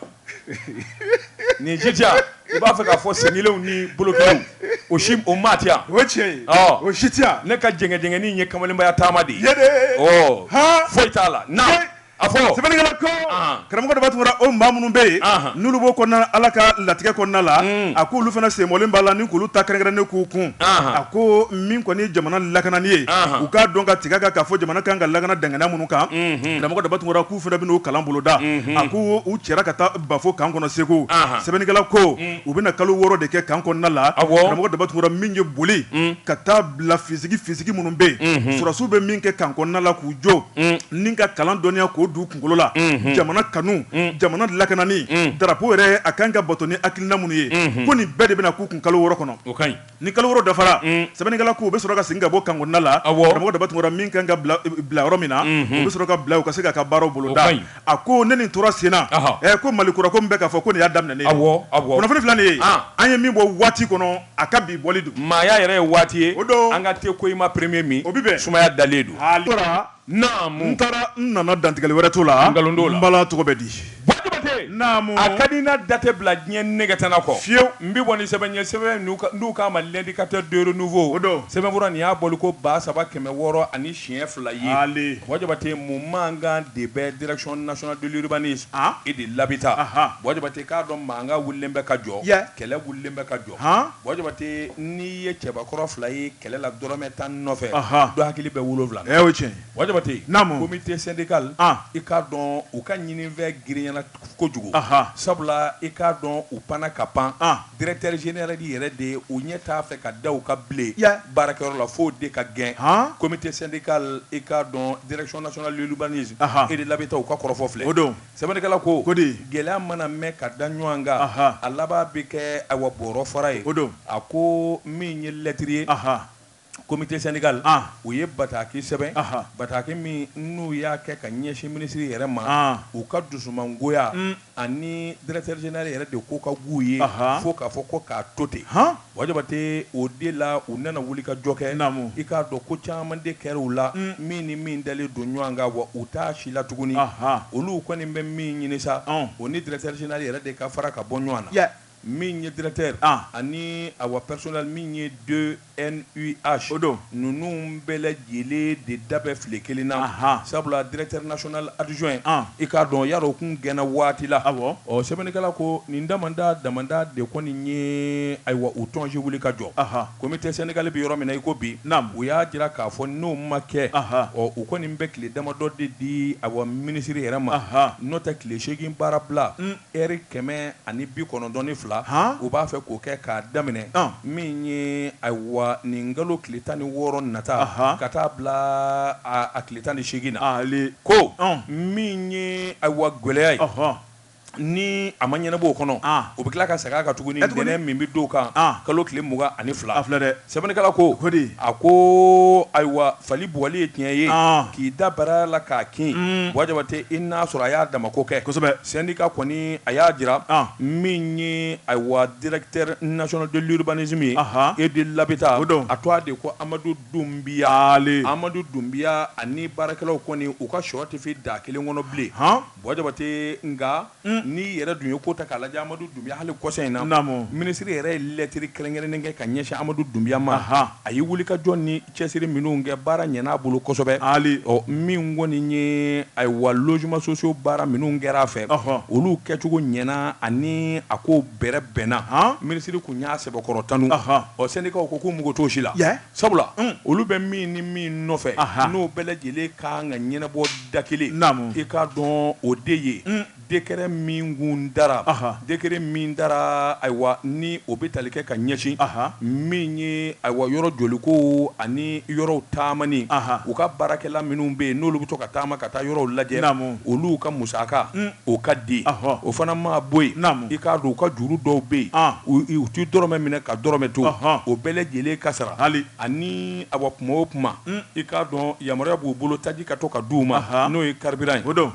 [SPEAKER 2] Nin si tɛ yan i b'a fɛ k'a fɔ sen kelenw ni bolo kelenw o si o maa tɛ yan, o ye tiɲɛ ye, ɔ,
[SPEAKER 1] o si tɛ yan, ne ka jɛngɛjɛngɛni in ye
[SPEAKER 2] kamalenbaya taama de ye, yedee, ɔ, han, foyi t'a la, naamu, a fɔ, sɛbɛnnikɛla ko, anhan,
[SPEAKER 1] karamɔgɔ Daba Tunkara o maa minnu bɛ yen, anhan, n'olu b'o kɔnɔna na Ala ka latigɛ kɔnɔna la, un, a k'olu fana sen bɔlen b'a la ni k'olu ta kɛrɛnkɛrɛnnen k'u kun, anhan, a ko min kɔni ye jamana lakanani ye, anhan, u k'a dɔn ka tigɛ a kan k'a fɔ jamana ka kan ka lakana danganiya minnu kan, unhun, karamɔgɔ Daba Tunkara ko fana bɛn'o kalan boloda a ko u cɛra ka taa bafo kan kɔnɔ segu sɛbɛnnikɛla ko u bɛna kalo wɔɔrɔ de kɛ kan kɔnɔna la a mɔgɔ daba tunkara min ye boli ka taa bila fisigi fisigi minnu bɛ yen sɔrɔsiw bɛ min kɛ kan kɔnɔnala k'u jɔ ni ka kalan dɔnniya k'o d'u kunkolo la jamana kanu jamana lakanani darapo yɛrɛ a kan ka bato ni hakilina minnu ye ko nin bɛɛ de bɛna k'u kun kalo wɔɔrɔ kɔnɔ Ni kalo wɔɔrɔ dafara sɛbɛnnikɛla k'u bɛ sɔrɔ ka segin ka bɔ kan kɔnɔna la mɔgɔ daba tunkara min kan ka bila yɔrɔ min na o bɛ sɔrɔ ka bila o ka se k'a ka baaraw boloda a ko ne nin tora senna ko mali kura ko min bɛ k'a fɔ ko ne y'a daminɛ ni kunnafoni fila nin ye an ye min bɔ waati kɔnɔ a ka bi bɔli don maaya yɛrɛ ye waati ye
[SPEAKER 2] o don an ka te ko i ma premier min o bi bɛ sumaya dalen
[SPEAKER 1] don n taara n nana dantigɛli wɛrɛ t'o la n bala tɔgɔ bɛ
[SPEAKER 2] di a ka di na datɛ bila diɲɛ nɛgɛtɛnna kɔ fiyewu n bɛ bɔ ni sɛbɛn ye sɛbɛn n'u k'a ma l'indicateur du renouveau o don sɛbɛnfura nin y'a bɔli ko ba saba kɛmɛ wɔɔrɔ ani siɲɛ fila ye mɔgɔ jabate mun mankan de bɛ direction nationale de l'urbanisme et de l'habitat mɔgɔ jabate k'a dɔn mankan wulilen bɛ ka jɔ kɛlɛ wulilen bɛ ka jɔ jɔ n'i ye cɛbakɔrɔ fila ye kɛlɛ la dɔrɔnɔrɔmɛ tan nɔfɛ don hakili bɛ wolo wolonwula cɛ
[SPEAKER 1] n'a ko bɛ
[SPEAKER 2] te sɛnɛdikali i k'a dɔn u ka ɲinin fɛn grinyala kojugu sabula i k'a dɔn u pan ka pan gɛrɛteri z yɛrɛ de yɛrɛ de ye u ɲɛ t'a fɛ ka da u ka bilen baarakɛyɔrɔ la fo de ka gɛn ko bɛ te sɛnɛdika i k'a dɔn gɛrɛcɛlibani e de labɛn taa u ka kɔrɔfɔ filɛ o don Sɛbɛnnikɛla ko, o de ye, gɛlɛya mana mɛn ka da ɲɔgɔn kan, anhan, a laban bɛ kɛ ayiwa bɔɔrɔ fara ye, o don, a ko min ye lɛtiri ye, anhan, comité syndical, an, u ye bataki sɛbɛn, anhan, bataki min n'u y'a kɛ ka ɲɛsin minisiri yɛrɛ ma, an, u ka dusumangoya, un, ani directeur général yɛrɛ de ko ka g'u ye, anhan, fo k'a fɔ ko k'a to ten, han. Wa Jabate o de la u nana wuli ka jɔ kɛ naamu i k'a dɔn ko caman de kɛra u la min ni min dalen don ɲɔgɔn kan wa u t'a si la tuguni olu kɔni bɛ min ɲini sa o ni directeur général yɛrɛ de ka fara ka bɔ ɲɔgɔn na min ye directeur ani awa personnel min ye DNUH o don ninnu bɛɛ lajɛlen de da bɛɛ file kelen na sabula directeur national adjoint i k'a dɔn yaro tun gɛnna waati la ɔ sɛbɛnnikɛla ko nin damanda damanda de kɔni ye ayiwa u tɔnonsi wuli ka jɔ comité syndical bɛ yɔrɔ min na i ko bi u y'a jira k'a fɔ n'o ma kɛ ɔ u kɔni bɛ tile damadɔ de di awa minisiri yɛrɛ ma n'o tɛ tile seegin baara bila Ɛri kɛmɛ ani bi kɔnɔntɔn ni fila u b'a fɛ k'o kɛ k'a daminɛ min ye ayiwa nin kalo tile tan ni wɔɔrɔ nata ka taa bila a tile tan ni seegin na ko min ye ayiwa gɛlɛya ye ni a ma ɲɛnabɔ o kɔnɔ u bɛ tila ka segin a kan tuguni ntɛnɛn min bɛ d'o kan kalo tile mugan ani fila filɛ dɛ
[SPEAKER 1] Sɛbɛnnikɛla
[SPEAKER 2] ko a ko ayiwa fali bugɔli ye tiɲɛ ye k'i da bara la k'a kin buwa jabate i n'a sɔrɔ a y'a dama ko kɛ kosɛbɛ syndicat kɔni a y'a jira min ye ayiwa directeur national de l'urbanisme ye et de l'habitat o dɔn a tɔgɔ de ko amadu dunbiya amadu dunbiya ani baarakɛlaw kɔni u ka shɔ tɛ fin da kelen kɔnɔ bilen Buwa jabate nka n'i yɛrɛ dun ye ko ta k'a lajɛ amadu dunbiya hali kɔsa in na minisiri yɛrɛ ye lɛtiri kɛrɛnkɛrɛnnen kɛ ka ɲɛsin amadu dunbiya ma a ye wuli ka jɔ ni cɛsiri minnu kɛ baara ɲɛn'a bolo kosɛbɛ ali min kɔni ye ayiwa logements sociaux baara minnu kɛra a fɛ olu kɛcogo ɲɛna ani a ko bɛrɛ bɛnna minisiri kun y'a sɛbɛkɔrɔ tanu ɔ syndicat ko k'u mago t'o si la Sabula olu bɛ min ni min nɔfɛ n'o bɛɛ lajɛlen ka kan ka ɲɛnabɔ da kelen i k'a dɔn o de ye décret min kun dara décret min dara ayiwa ni o bɛ tali kɛ ka ɲɛsin min ye ayiwa yɔrɔ jɔli ko ani yɔrɔw taamani u ka baarakɛla minnu bɛ yen n'olu bɛ to ka taama ka taa yɔrɔw lajɛ olu ka musaka O ka di o fana ma bɔ yen i k'a dɔn u ka juru dɔw bɛ yen u tɛ dɔrɔmɛ minɛ ka dɔrɔmɛ to o bɛɛ lajɛlen ka sara hali ani ayiwa kuma o kuma i k'a dɔn yamaruya b'u bolo taji ka to ka di u ma n'o ye carburant ye o dɔn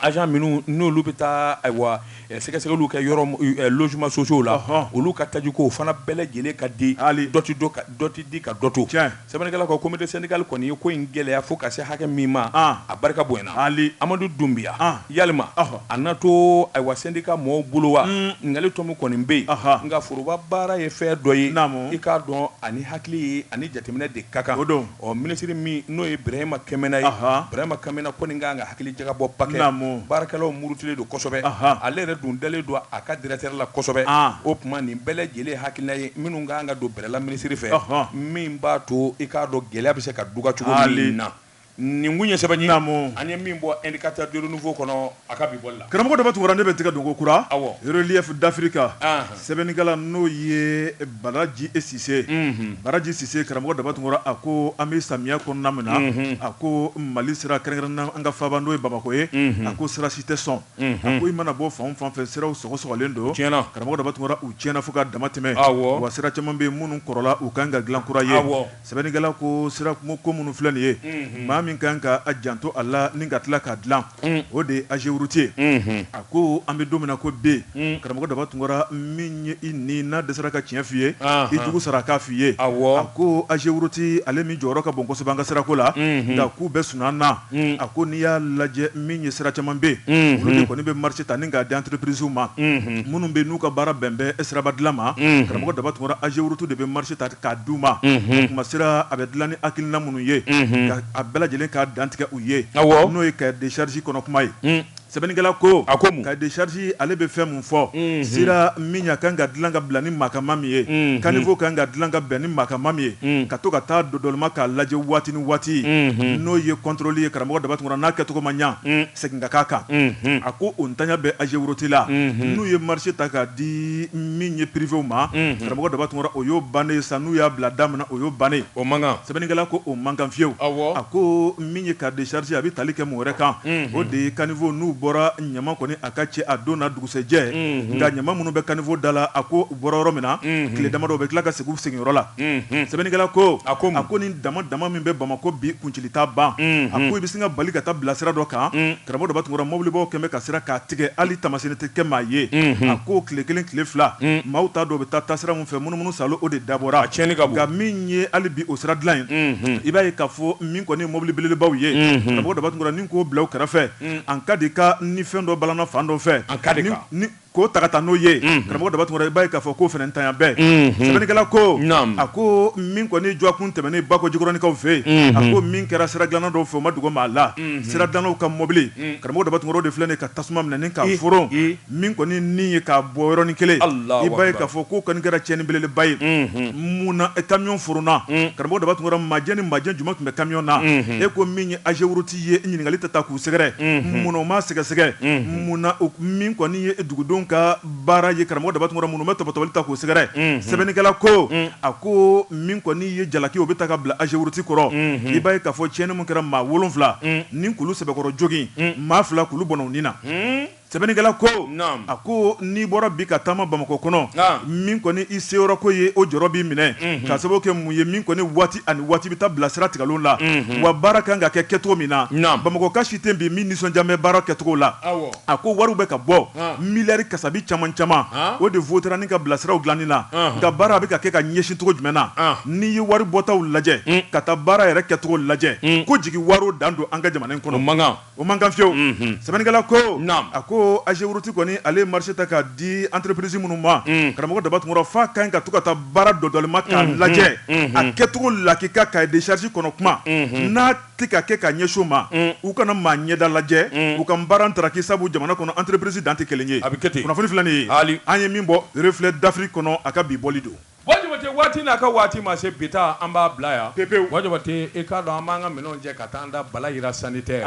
[SPEAKER 2] agent minnu n'olu bɛ taa ayiwa sɛgɛsɛgɛliw kɛ yɔrɔ logements sociaux la olu ka taajiko o fana bɛɛ lajɛlen ka di dɔ tɛ di ka dɔ to Sɛbɛnnikɛla ko comité syndical kɔni ye ko in gɛlɛya fo ka se hakɛ min ma, a barika bonyana. Ali Amadu Dunbiya, yalima a na to ayiwa syndicat mɔɔw bolo wa? Ɲininkali tɔmi kɔni bɛ yen, nka foroba baara ye fɛn dɔ ye, i k'a dɔn a ni hakili ye ani jateminɛ de ka kan. O don. Ɔ minisiri min n'o ye Birahima Kɛmɛna ye, Birahima Kɛmɛna kɔni ka kan ka hakilijakabɔba kɛ. Naamu. Baarakɛlaw murutilen don kosɛbɛ. Ale yɛrɛ dun dalen don a ka directeur la kosɛbɛ. O tuma nin bɛɛ lajɛlen hakilina ye minnu ka kan ka don la minisiri fɛ min b'a to i k'a dɔn gɛlɛya bɛ se ka duga cogo min na nin kun ye sɛbɛnni an ye min bɔ indicateur du renouveau kɔnɔ a ka bi bɔli la karamɔgɔ daba tunkara ne bɛ tigɛ
[SPEAKER 1] don ko kura relief d'afrique sɛbɛnnikɛla n'o ye baraji e sise baraji sise karamɔgɔ daba tunkara a ko an bɛ samiya kɔnɔna min na a ko mali sira kɛrɛnkɛrɛnnen an ka faaba n'o ye bamakɔ ye a ko sira si tɛ sɔn ko i mana bɔ fan o fan fɛ siraw sɔgɔsɔgɔlen don karamɔgɔ daba tunkara u tiɲɛna fo ka dama tɛmɛ wa sira caman bɛ yen minnu kɔrɔla u kan ka dilan kura ye sɛbɛnnikɛla ko sira ko minnu filɛ nin ye maa min kan k'a janto a la ni ka tila k'a dilan o de ye ageroute ye a ko an bɛ don min na ko bi karamɔgɔ daba tunkara min ye i ni n'a dɛsɛra ka tiɲɛ f'i ye i jugu sara k'a f'i ye a ko ageroute ale min jɔyɔrɔ ka bon kosɛbɛ an ka sira ko la nka k'u bɛɛ sun na a ko n'i y'a lajɛ min ye sira caman bɛ olu de kɔni bɛ marché ta ni k'a di entreprisew ma minnu bɛ n'u ka baara bɛn bɛ siraba dilan ma karamɔgɔ daba tunkara AGEROUTE de bɛ marché ta k'a di u ma o tuma sira a bɛ dilan ni hakilina minnu ye a bɛɛ lajɛlen k'a dantigɛ u ye n'o ye cahier de charge kɔnɔ kuma ye sɛbɛnnikɛla ko a ko cahier de charge ale bɛ fɛn fɔ sira min ka kan ka dilan ka bila ni maakama min ye caniveau kan ka dilan ka bɛn ni maakama min ye ka to ka taa dɔdɔlima k'a lajɛ waati ni waati n'o ye contrôle ye karamɔgɔ daba tunkara n'a kɛcogo ma ɲa segin ka k'a kan a ko o ntanya bɛ AGEROUTE la n'u ye marché ta k'a di min ye privéw ma karamɔgɔ daba tunkara o y'o bannen sa n'u y'a bila da min na o y'o bannen o man kan sɛbɛnnikɛla ko o man kan fiyewu a ko min ye cahier de charge a bɛ tali kɛ mun wɛrɛ kan o de ye caniveau n'u bɔra ɲama kɔni a ka cɛ a don na dugusɛjɛ nka ɲama minnu bɛ caniveau da la a ko u bɔra yɔrɔ min na tile damadɔ u bɛ tila ka segin u sigiyɔrɔ la sɛbɛnnikɛla ko a ko ma ko ni damadama min bɛ bamakɔ bi kuncili t'a ban a ko i bɛ sin ka bali ka taa bila sira dɔ kan karamɔgɔ daba tunkara mobilibaw kɛmɛ ka sira k'a tigɛ hali taamasiyɛn tɛ kɛ maa ye a ko tile kelen tile fila maaw t'a dɔn u bɛ taa taasira min fɛ munumunu sa o de dabɔra nka min ye hali bi o sira dilan in i b'a ye k'a fɔ min kɔni mobili belebelebaw ye karamɔgɔ daba tunkara k'o bila kɛrɛfɛ Un, en cas de cas ni fɛn dɔ balanna fan dɔ fɛ, an ka di ka, ni ni k'o ta ka taa n'o ye, unhun, karamɔgɔ Daba Tunkara, i b'a ye k'a fɔ k'o fana ntanya bɛ, unhun, sɛbɛnnikɛla ko, naamu, a ko min kɔni jɔɔkun tɛmɛnen Bakɔ Jikɔrɔnikaw fɛ yen, unhun, a ko min kɛra sira dilanna dɔw fɛ o ma dogo maa la, unhun, sira dilannaw ka mɔbili, un, karamɔgɔ Daba Tunkara o de filɛ nin ye ka tasuma minɛ ni k'a foron, i, i, min kɔni ni ye k'a bɔ yɔrɔnin kelen, Alahu akbar, i b'a ye k'a fɔ k'o kɔni kɛra tiɲɛni belebeleba ye, unhun, mun na kamiɔn foronna, un, karamɔgɔ Daba Tunkara matière ni matière jumɛn tun bɛ kamiɔn na, unhun, e ko min ye AGEROUTE ye ɲininkali ta ta k'u sɛgɛrɛ mun na o ma sɛgɛsɛgɛ mun na min kɔni ye dugudenw ka baara ye karamɔgɔ daba tunkara minnu bɛ tɔpɔtɔbali ta k'u sɛgɛrɛ sɛbɛnnikɛla ko a ko min kɔni ye jalaki o bɛ ta ka bila AGEROUTE kɔrɔ i b'a ye k'a fɔ tiɲɛni min kɛra maa wolonwula ni k'olu sɛbɛkɔrɔ jogin maa fila k'olu bɔnna Sɛbɛnnikɛla ko, naamu, a ko n'i bɔra bi ka taama Bamakɔ kɔnɔ, naamu, min kɔni i seyɔrɔko ye o jɔrɔ b'i minɛ, unhun, k'a sababu kɛ mun ye min kɔni waati ani waati bɛ taa bila sira tigɛlenw la, unhun, wa baara ka kan ka kɛ kɛcogo min na, naamu, Bamakɔka si tɛ yen bi min nisɔndiya bɛ baara kɛcogo la, awɔ, a ko wariw bɛ ka bɔ, han, miliyari kasabi caman caman, han, o de vote-ra ni k'a bila siraw dilanni na, ɔnhɔn, nka baara a bɛ ka kɛ ka ɲɛsin cogo jumɛn na, ɔnhɔn, n'i ye wari bɔtaw lajɛ, un, ka taa baara yɛrɛ kɛcogo lajɛ, un, ko jigi waaro dan don an ka jamana in kɔnɔ, o man kan. O man kan fiyewu unhun sɛbɛnnikɛla koo naam a koo Ageroute kɔni ale ye marché ta k'a di entreprise minnu ma unh karamɔgɔ Daba Tunkara f'a ka ɲi ka to ka taa baara dɔdɔlima k'a unhun lajɛ unhun a kɛcogo la k'i ka cahier de charge kɔnɔ kuma unhun n'a tɛ ka kɛ ka ɲɛsin o ma unh u kana maa ɲɛda lajɛ unh u ka baara ntaraki sabu jamana kɔnɔ entreprise dan tɛ 1 ye a bɛ kɛ ten kunnafoni filɛ nin ye aali an ye min bɔ reflet d'Afrique kɔnɔ a ka bi bɔli don Bon Jabate waati
[SPEAKER 2] n'a ka waati ma se bi taa an b'a bila yan pepewu bon Jabate i k'a dɔn an b'an ka minɛn cɛ ka taa an da Balayira sanitaire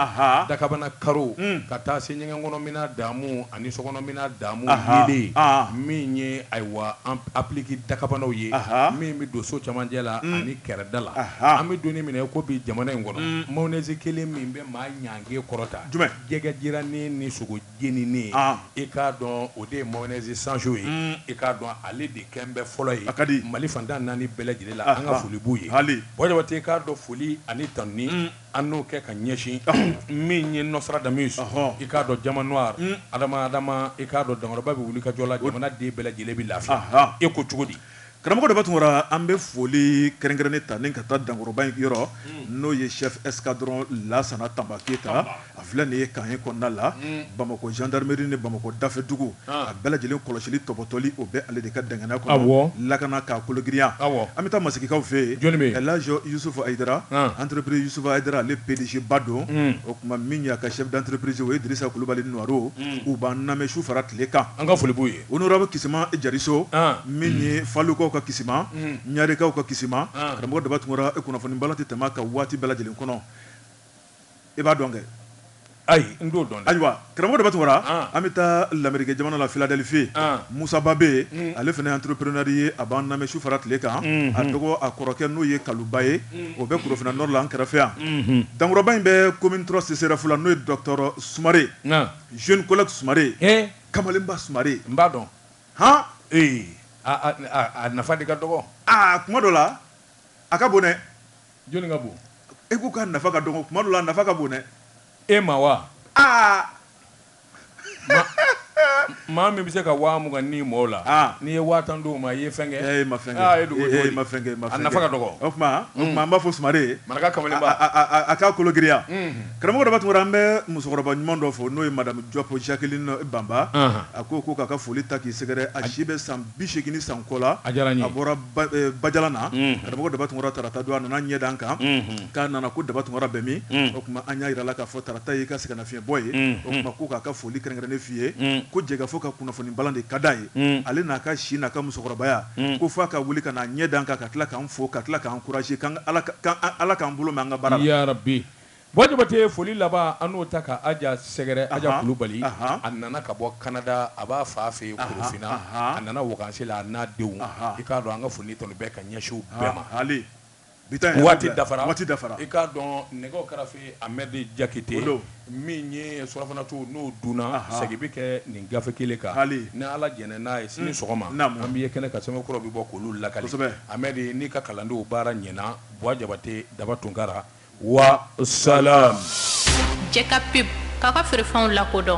[SPEAKER 2] dakabana karo ka taa se ɲɛgɛn kɔnɔ minan damu ani so kɔnɔ minan damu yeelen min ye ayiwa applique dakabanaw ye min bɛ don so cɛmancɛ la ani kɛrɛda la an bɛ donni minɛ ko bi jamana in kɔnɔ mayonnaise kelen min bɛ maa ɲange kɔrɔta jɛgɛ jirannin ni sogo jeninen ye, an, i k'a dɔn o de ye mayonnaise Sancho ye, un, i k'a dɔn ale de kɛlen bɛ fɔlɔ ye, a ka di, Mali fan tan naani bɛɛ lajɛlen la, an ka foli b'u ye, haali, bon Jabate i k'a dɔn foli ani tanuni, un, an n'o kɛ ka ɲɛsin, ɔhɔ, min ye Nostradamus, ɔhɔ, i k'a dɔn Diamant Noir, un, Adama Adama i k'a dɔn Dankɔrɔba bɛ wulikajɔ la, jamana den bɛɛ lajɛlen bɛ lafiya, anhan, e ko cogo di? Karamɔgɔ Daba
[SPEAKER 1] Tunkara an bɛ foli kɛrɛnkɛrɛnnen ta ni ka taa dankɔrɔba in yɔrɔ n'o ye chef escadron Lasana Tanba Keyita a filɛ nin ye camp un kɔnɔna la bamakɔ jandarimeri ni bamakɔ dafɛdugu a bɛɛ lajɛlen kɔlɔsili tɔbɔtɔli o bɛ ale de ka danganiya kɔnɔ lakana k'a kologiriya an bɛ taa Masigikaw fɛ yen El Hadj Yusufu Ayidara entreprise Yusufu Ayidara ale PDG ba don o tuma min ye a ka chef d'entreprise o ye Dirisa Kulubali Nuwaro u b'an lamɛn su fara tile kan an ka foli b'u ye Honorable
[SPEAKER 2] Kisima
[SPEAKER 1] Jariso min ye Falukaw ka kisima ɲarikaw ka kisima karamɔgɔ Daba Tunkara e kunnafoni balan tɛ tɛmɛ a ka waati bɛɛ lajɛlen kɔnɔ i b'a dɔn kɛ ayi n
[SPEAKER 2] t'o dɔn ayiwa karamɔgɔ Daba
[SPEAKER 1] Tunkara an bɛ taa lamerike jamana la Philadelphie Musa Ba bɛ yen ale fana entrepreneur ye a b'an lamɛn su fara tile kan a dɔgɔ a kɔrɔkɛ n'o ye Kaluba ye o bɛ Korofina Nord la an kɛrɛfɛ yan Dankɔrɔba in bɛ commune trois CSRef la n'o ye docteur Sumare jeune collègue Sumare Kamalenba Sumare n b'a
[SPEAKER 2] dɔn hɔn ee a nafa de ka dɔgɔ aa kuma dɔ
[SPEAKER 1] la a ka bon dɛ jɔnni ka bon
[SPEAKER 2] e ko k'a nafa
[SPEAKER 1] ka dɔgɔ kuma dɔ la a nafa ka bon dɛ e ma wa
[SPEAKER 2] aa maa min bɛ se ka waa mugan ni mɔgɔw la n'i ye waa tan d'o ma i ye fɛn kɛ e ma fɛn
[SPEAKER 1] ma fɛn kɛ a nafa ka dɔgɔ o
[SPEAKER 2] tuma an b'a
[SPEAKER 1] fo Sumare maraka
[SPEAKER 2] kamalenba a k'a
[SPEAKER 1] kologiriya Karamɔgɔ Daba Tunkara an bɛ musokɔrɔba ɲuman dɔ fo n'o ye madame Jɔp Jacqueline Banba a ko ko k'a ka foli ta k'i sɛgɛrɛ a si bɛ san bi segin ni san kɔ la a bɔra Bajalan na karamɔgɔ Daba Tunkara tarata don a nana ɲɛ d'an kan k'a nana ko Daba Tunkara bɛ min o tuma an y'a jira la k'a fɔ tarata y'i ka sɛgɛnnafiɲɛbɔ ye o tuma ko k'a ka foli kɛrɛnkɛrɛnnen f'i ye ko Jɛkafɔ ka kunnafoni balan de ka d'a ye ale n'a ka si n'a ka musokɔrɔbaya ko f'a ka wuli ka n'a ɲɛ d'an kan ka tila k'an fo ka tila k'an encourager ala k'an bolo mɛn an ka baara bi
[SPEAKER 2] Bua jabate foli laban an n'o ta ka aja sɛgɛrɛ aja kulubali a nana ka bɔ kanada a b'a fa fɛ yen korofina a nana wakansi la a n'a denw i k'a dɔn an ka foli tun bɛ ka ɲɛsin bɛɛ ma waati dafara i k'a dɔn nɛgɛw kɛrɛfɛ amɛdi jakite min ye surɔfana to n'o dunna segin bɛ kɛ nin gafe kelen kan ni ala jɛnna n'a ye sini sɔgɔma an bɛ ye kɛnɛ kan sɛbɛn kura bɛ bɔ k'olu lakali amɛdi n'i ka kalandenw baara ɲɛna bua jabate daba tunkara wa salam
[SPEAKER 3] jɛka pub k'aw ka
[SPEAKER 2] feerefɛnw
[SPEAKER 3] lakodɔn